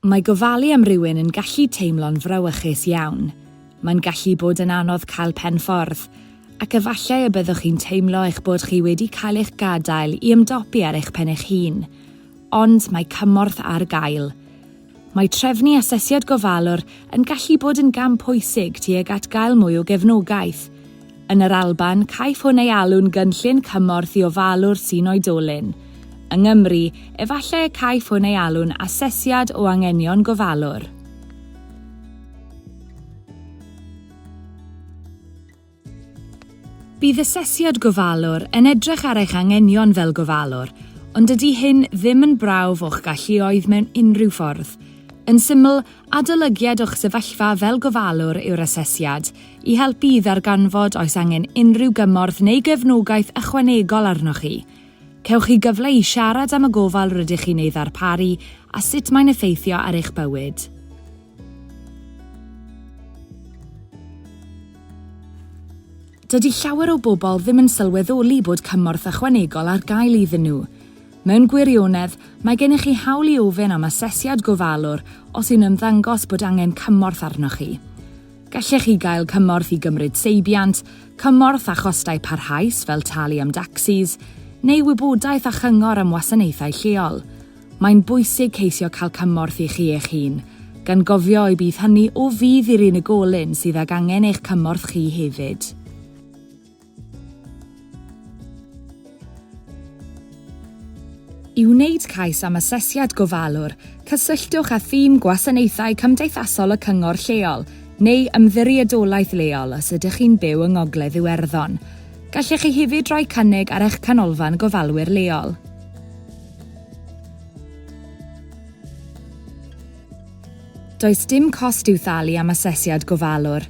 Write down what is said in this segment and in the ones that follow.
Mae gofalu am rywun yn gallu teimlo'n frawychus iawn. Mae'n gallu bod yn anodd cael pen ffordd, ac efallai y byddwch chi'n teimlo eich bod chi wedi cael eich gadael i ymdopi ar eich pen eich hun. Ond mae cymorth ar gael. Mae trefnu asesiad gofalwr yn gallu bod yn gam pwysig tuag at gael mwy o gefnogaeth. Yn yr Alban, caiff hwn ei alw'n Gynllun Cymorth i Ofalu'r Tŷ'n Oedolyn. Yng Nghymru, efallai y caiff hwn ei alw'n Asesiad o Angenion Gofalwr. Bydd Asesiad Gofalwr yn edrych ar eich anghenion fel gofalwr, ond dydy hyn ddim yn brawf o'ch galluoedd mewn unrhyw ffordd. Yn syml, adolygiad o'ch sefyllfa fel gofalwr yw'r asesiad, I helpu i ddarganfod oes angen unrhyw gymorth neu gefnogaeth ychwanegol arnoch chi, cewch chi gyfle i siarad am y gofal rydych chi'n ei ddarparu a sut mae'n effeithio ar eich bywyd. Dydy llawer o bobl ddim yn sylweddoli bod cymorth ychwanegol ar gael iddyn nhw. Mewn gwirionedd, mae gennych chi hawl i ofyn am asesiad gofalwr os yw'n ymddangos bod angen cymorth arnoch chi. Gallech chi gael cymorth i gymryd seibiant, cymorth â chostau parhaus fel talu am dacsis, neu wybodaeth a chyngor am wasanaethau lleol. Mae'n bwysig ceisio cael cymorth i chi eich hun, gan gofio y bydd hynny o fudd i'r unigolyn sydd ag angen eich cymorth chi hefyd. I wneud cais am asesiad gofalwr, cysylltwch â thîm Gwasanaethau Cymdeithasol y Cyngor Lleol neu Ymddiriedolaeth Leol os ydych chi'n byw yng Ngogledd Iwerddon. Gallech chi hefyd roi cynnig ar eich Canolfan Gofalwyr Leol. Does dim cost i'w thalu am asesiad gofalwr.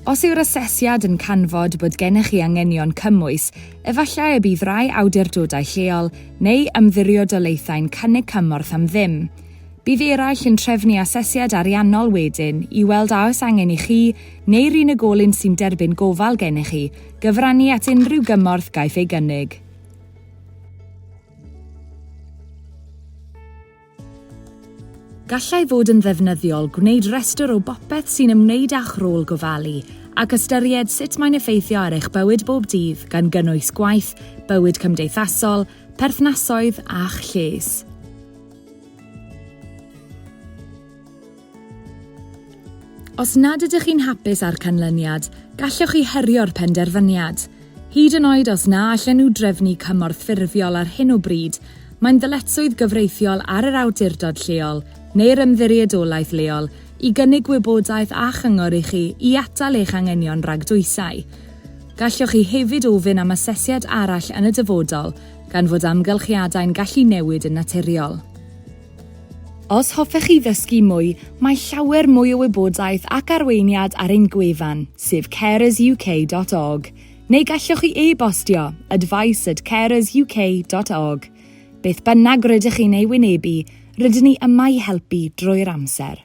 Os yw'r asesiad yn canfod bod gennych chi anghenion cymwys, efallai y bydd rhai awdurdodau lleol neu ymddiriodolaethau'n cynnig cymorth am ddim. Bydd eraill yn trefnu asesiad ariannol wedyn i weld a oes angen i chi, neu'r unigolyn sy'n derbyn gofal gennych chi, gyfrannu at unrhyw gymorth gaiff ei gynnig. Gallai fod yn ddefnyddiol gwneud rhestr o bopeth sy'n ymwneud â'ch rôl gofalu ac ystyried sut mae'n effeithio ar eich bywyd bob dydd gan gynnwys gwaith, bywyd cymdeithasol, perthnasoedd a'ch lles. Os nad ydych chi'n hapus â'r canlyniad, gallwch chi herio'r penderfyniad. Hyd yn oed os na allen nhw drefnu cymorth ffurfiol ar hyn o bryd, mae'n ddyletswydd gyfreithiol ar yr awdurdod lleol neu'r ymddiriedolaeth leol i gynnig gwybodaeth a chyngor i chi i atal eich anghenion rhag dwysau. Gallwch chi hefyd ofyn am asesiad arall yn y dyfodol, gan fod amgylchiadau'n gallu newid yn naturiol. Os hoffech chi ddysgu mwy, mae llawer mwy o wybodaeth ac arweiniad ar ein gwefan, sef carersuk.org, neu gallwch chi e-bostio, advice at carersuk.org. Beth bynnag rydych chi'n ei wynebu, rydyn ni yma i helpu drwy'r amser.